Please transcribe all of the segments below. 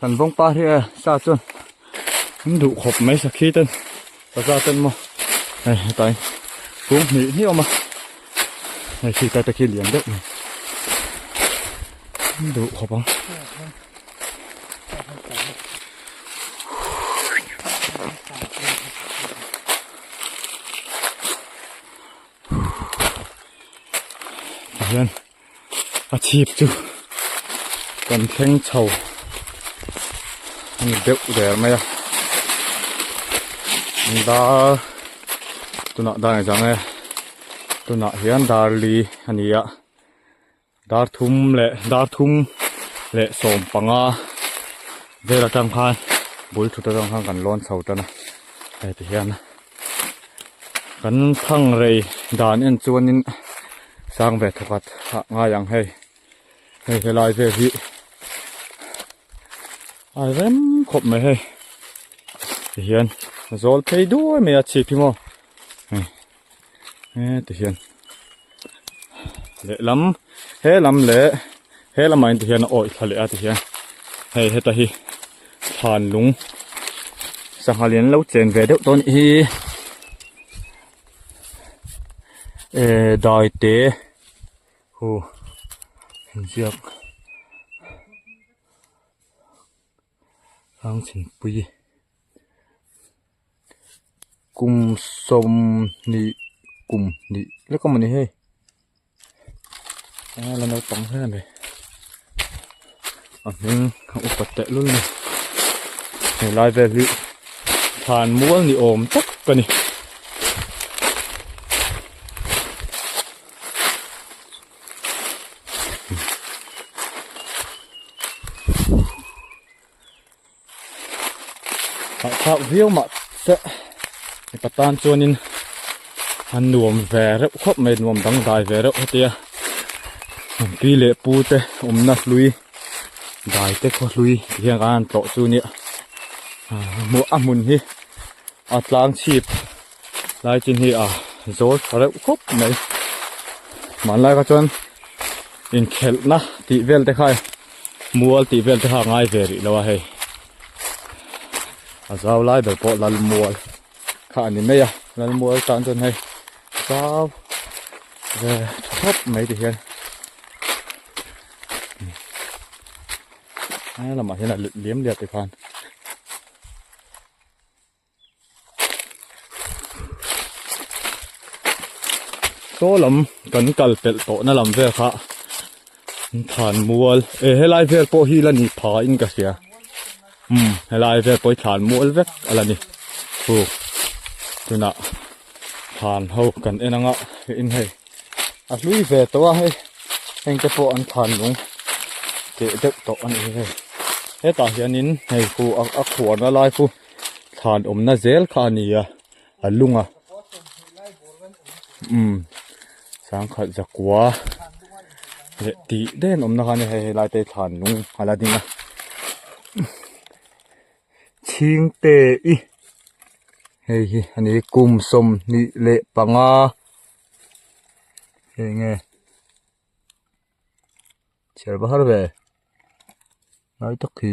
Kan vawngpa hi e sa chuan an duh khawp mai sakhi ten ka za ten maw hei hetain kung hnih hniawm a hei khi ta te khi lian deuh mai an duh khawp ang hian a chhip chu kan thleng chho a ni deuh der mai a an dar tunah dan ang chang e tunah hian dar li a ni a dar thum leh dar thum leh sawm panga vel atang khan bul thut atang khan kan lawn chho tan a heti hian kan thangrei dan en chuanin-- Sang ve thawkhat ah ngai ang hei. Hei helai vel hi a rem khawp mai hei. Tihian zawl phei duai mai a chhip hi maw. Hei. He tihian. Leh lam he lam le he lam ain tihian oi thla leh a tihian. Hei heta hi than lung. Sangha lian lo chen ve deuh tawh anih hi. ehh dai te hu inziak hlâng thingpui kum sawm hnih kum hnih lek a mawni hei. Engla naupang hle a ni a hming a upa tehlul a ni he lai vel hi thlan mual ni awm tak a ni imm. Hahchhak viau mah se mipa tan chuanin a nuam ve reuh khawp mai nuam dangdai ve reuh hetia an pi leh pu te awmna hlui dai te khawhlui tih hian kan han tlawh chu nia a hmun hi a tlang chhip-- lai chin hi a zawl tha reuh khawp mai hmanlai kha chuan inkhelhna tih vel te kha mual tih vel te kha a ngai ve rih lo a hei a zau lai ber pawh lalmual kha a ni mai a lalmual tan chuan hei zau ve tha khawp mai ti hian he lamah hian a let liam liam te khan Saw lam kan kal pelh tawhna lam vel kha thlan mual eh helai vel pawh hi la ni pha in ka hria umm helai vel pawh hi thlan mual vek a la ni hu tunah thlan ho kan en ang a hei in hei a hlui ve tawh a hei heng te pawh an thlan lung teh deuh tawh a nih hi hei hetah hian in hei hu a khuana lai chu-- thlan awmna zel kha a nia a lunga umm sangkhat zakua leh tih daih an awmna kha a nia hei helai te hi thlan lung a la ding a chhing te i hei hi a ni kum sawmhnih leh panga hei nge chhiar va har ve ngai tak hi.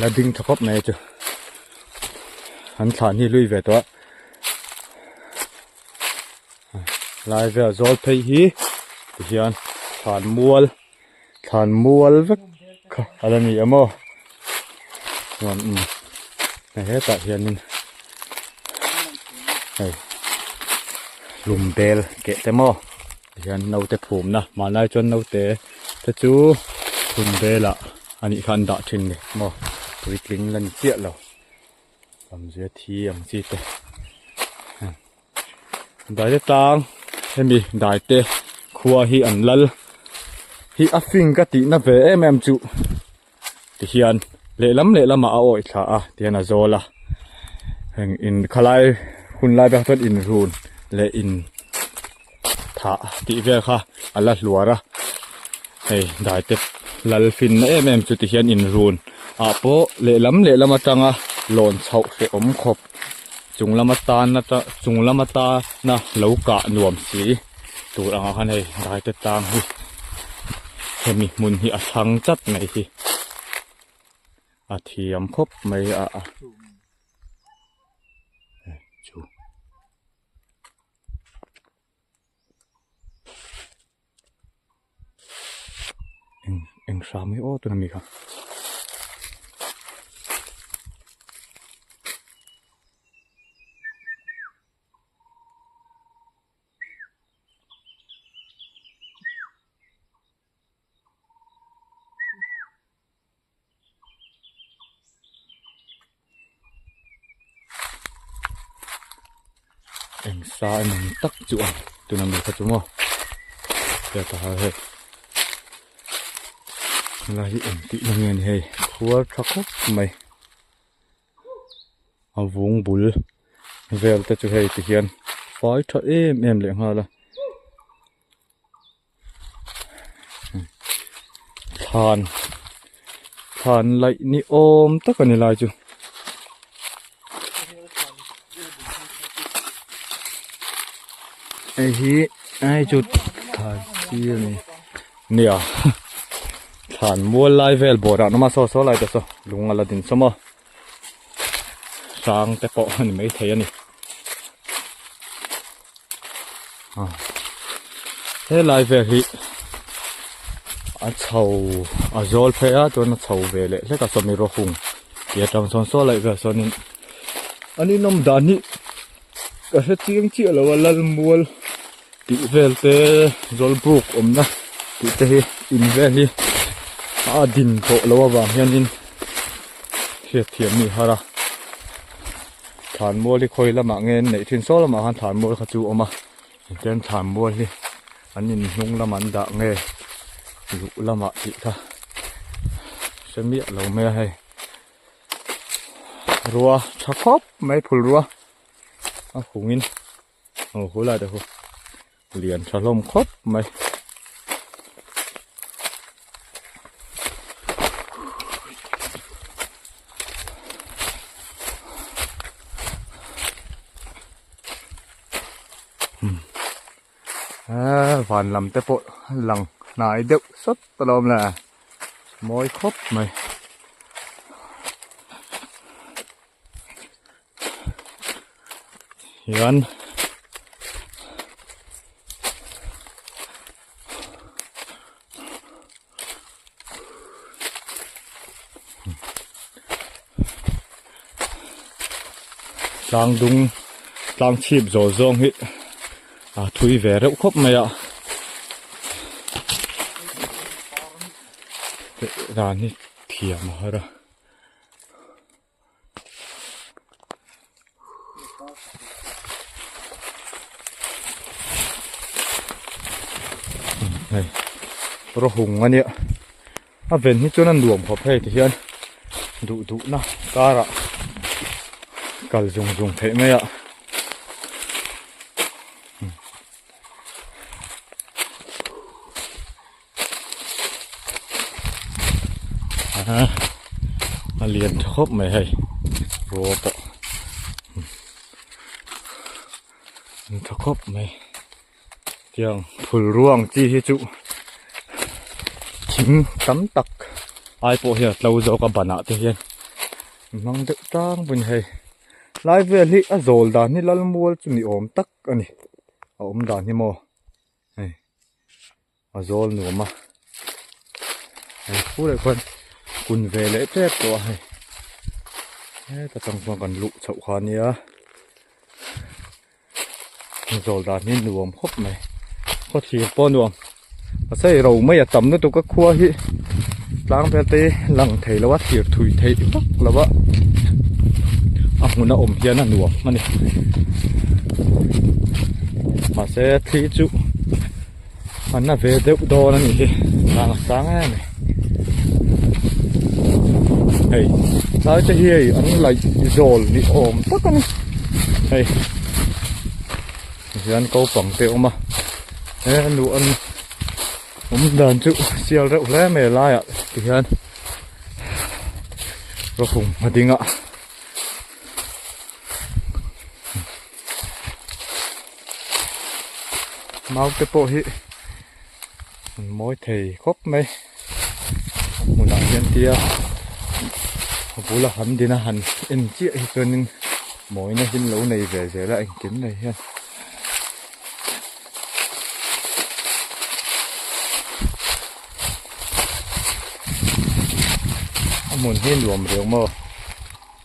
la ding tha khawp mai chu an thlan hi hlui ve tawh a lai vel zawl phei hi tihian thlan mual thlan mual vek kha a la ni awm aw chuan imm hei hetah hianin hei lum bel keh te maw. Hian naute phumna hmanlai chuan naute te chu khum vela anih kha an dah thin ni maw puitling la ni chiah lo lam zia thi ang chi te hmm daite tlang hemi daite khua hi an lal hi a fing ka tihna ve em em chu. ti hian lehlam lehlamah a awih thla a ti hian a zawl a heng in khalai hun lai pawh chuan inrun leh in thah tih vel kha a la hluar a hei daite lal finna em em chu ti hian inrun ah pawh lehlam lehlam atanga lawn chhoh hreh awm khawp. chung lama tan ata chung lama tana lo kah nuam si tur ang khan hei daite tang hi hemi hmun hi a thlâng tlat mai hi a thiam khawp mai a a chu. eng eng hram hi aw tûn a ni kha. eng sa a ni ang tak chu a tuna mi kha chu maw hetiang hei khula hi eng tih na nge ni hei khuar tha khawp mai a vung bul vel te chu hei tihian fai tha em em leh nghal a. thlan thlan laih ni awm tak a ni lai chu hei hi hei chu thlan sir a ni nia thlan mual lai vel bawrah numa saw saw lai ta saw lung a la din sawm a. sang te pawh a ni maithei a ni a helai vel hi a chho a zawl phei a chuan a chho ve leh hlek a sawmi rawh hung tia tang sawn saw laih vel sawn in an inawm dan hi-- Ka hre chiang chiah lo a Lalmual tih vel te Zawlbuk awmna tih te hi in vel hi a din tawh lo avang hianin hriatthiam a nih har a, Thlanmual hi khawi lamah nge an neih thin saw lamah khan Thlanmual kha chu a awm a, tichuan Thlanmual hi an in hnung lamah an dah nge luh lamah tih kha hre miah lo mai a hei. rua tha khawp mai phul rua a hung in ho ho lah te chu lian tha hlawm khawp mai hmm Aa van lam te pawh lang hnai deuh sat a lo awm le a mawi khawp mai hian tlang dung tlang chhip zawh zawng hi a thui ve reuh khawp mai a ran hi thiam a har a. hei rawhung a nia a ven hi chuan a nuam khawp hei ti hian duh duh na kar ah kal zung zung theih mai a. Aha, a lian tha khawp mai hei, rua pawh lian tha khawp mai. Tiang phul rua ang chi hi chu thing tam tak ai pawh hian a tlo zawk a banah te hian a hmang deuh tlang pawh a ni hei. Lai vel hi a zawl dan hi lalmual chu ni awm tak a ni, a awm dan hi maw hei. a zawl nuam a hei pu leh khuan kun ve leh tep tawh a hei heta tang chuan kan luh chhoh kha nia a zawl dan hi nuam khawp mai khawthlir pawh nuam pasal ro mai a tam lutuk a khua hi tlang vel te hi lang thei lo a thlir thui theih vak lo a a hmun a awm hian a nuam a ni mahse thli chu-- an la ve deuh dawn a nih hi hnah sang em ni hei tlai te hi hei an laih zawl ni awm tak a ni hei tihian ko pang te awm a he nu an awm dan chu sial reuh hle mai a laiah tihian ka hum a ding a. mau te pawh hi an mawi thei khawp mai a hmunah hian tia a bula han din a han en chiah hi chuanin mawina hi anlo nei ve ve la engkim nei hian a hmun hi nuam reng maw.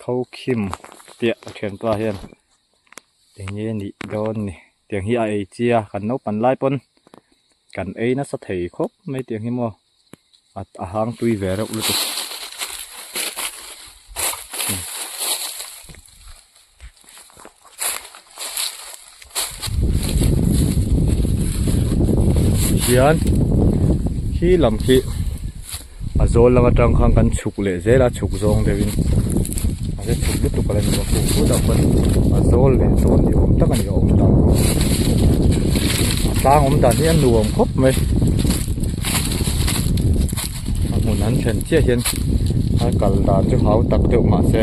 Khawkhim piah a thianpa hian enge a nih dawn ni tiang hi a ei chi a kan naupan lai pawn kan ei nasa thei khawp mai tiang hi maw at a hangtui ve reuh lutuk. hian khi lam khi a zawl lama tang khan kan chhuk leh zela chhuk zawng deuh in a hre chhuk lutuk a la ni bawk a pawh pawh chuan a zawl leh zawn ni awm tak a ni a awm dan bawk a tlang awm dan hi a nuam khawp mai a hmun an thlen chiah hian a kal dan chu hau tak deuh mah se.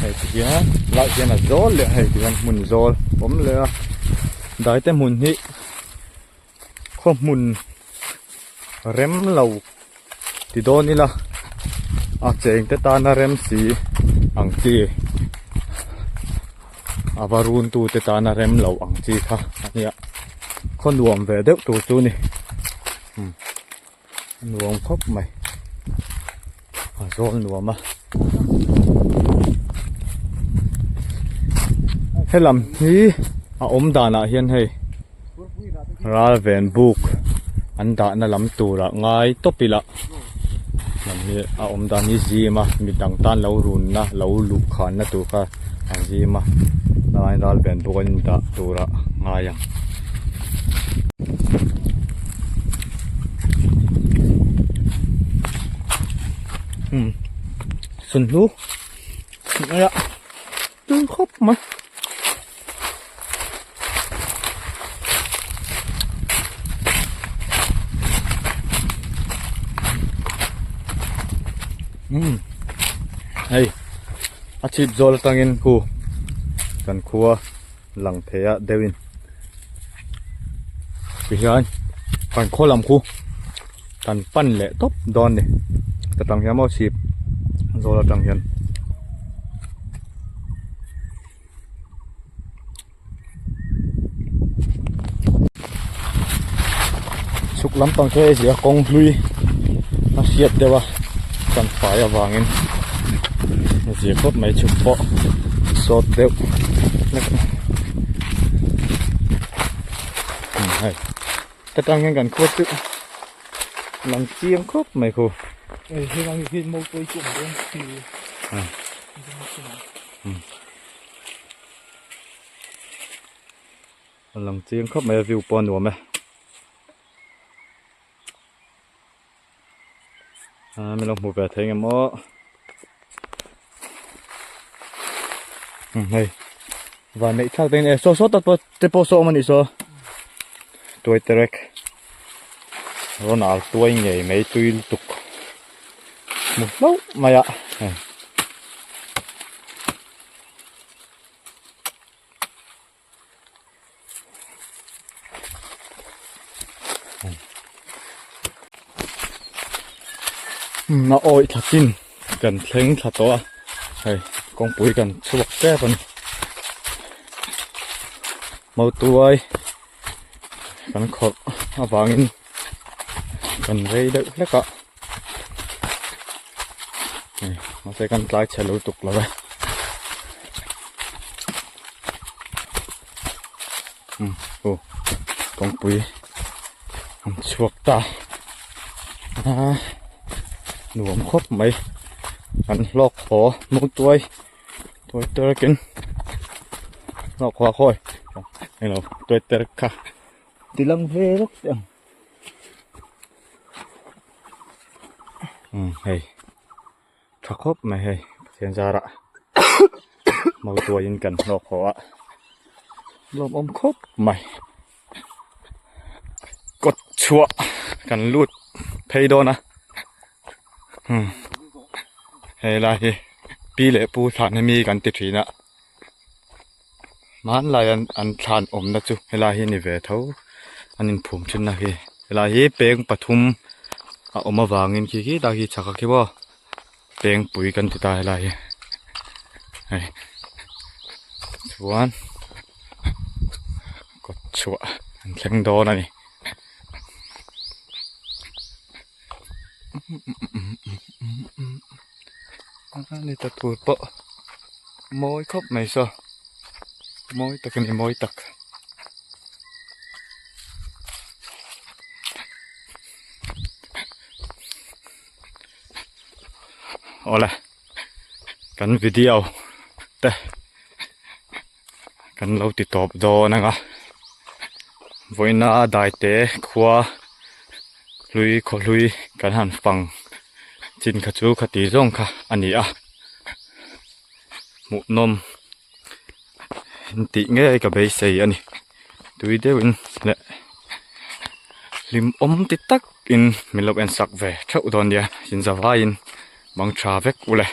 hei te hian lah hian a zawl leh a hei te hian hmun zawl awm leh a daite hmun hi khaw hmun rem lo ti dawn ila a cheng te tana rem si ang chi a va run tu te tana rem lo ang chi kha a nia khaw nuam ve deuh tur chu ni. nuam khawp mai a zawl nuam a helam hi a awm dan ah hian hei ral ven buk an dah na lam tur ah ngai tawp ila lam hi a awm dan hi zim a mi dang tan lo run na lo luh khan na tur kha. an zim a helain ral ben bawk an indah tura ngai ang. Hmm. Sun hlu. Tui khawp mai. hei a chhip zawl atangin khu kan khu a lang thei a deuh in tihian kan khaw lam khu kan pan leh tawp dawn a ni ka tang hian maw chhip zawl atang hian. chhuk lampang chu hei a zia kawng hlui a hriat deuh a kan fai avangin a zia khawp mai chhuk pawh sawt deuh hlek a hei hei hetah hian kan khuar chu lam chiang khawp mai khaw. a lang chiang khap mai a view pawh a nuam e aaa min lo hmuh ve thei eng emaw hei van neih thlak te in e saw saw tak pawh te pawh saw awm a nih saw tuai terek. rawn ar tuai ngei mai tui lutuk hmu hlauh mai a heh hum a awih tlakin kan thleng thla tawh a hei kawngpui kan chhuak tep a ni mau tuai. kan khawrh avangin kan rei deuh hlek a mahse kan tlai chhe lutuk lo e umm aw kawngpui an chhuak ta a nuam khawp mai an hlawk thaw hmuh tuai. Toiter keng hlauh khua khawi eng lo toiter kha ti lam ve rawk te ang umm hei tha khawp mai hei Pathian zara motuaiin kan hlawk khawh a lawmawm khawp mai. kawt chhuah kan lut phei dawn a hmm he lai hi pi leh pu thlan hi mi kan ti thin a hmanlai an an thlan awmna chu he lai hi a ni ve tho an in phum thin na hi he lai hi peng pathum a awm avangin khi khi ta khi chhaka khi vaw. pengpui kan ti ta helai hi hei chuan kawt chhuah an thleng dawn a ni ni ta tur pawh mawi khawp mai saw mawi tak a ni mawi tak. Awle kan video te kan lo ti tawp dawn anga vawiina daite khua hlui khawhlui kan han fang chin kha chu khati zawng kha a ni a hmuhnawm-- intih ngei ka beisei a ni tui deuhin leh hlim awm ti tak in min lo en sak ve theuh dawn nia inzavaiin bang tha vek uleh.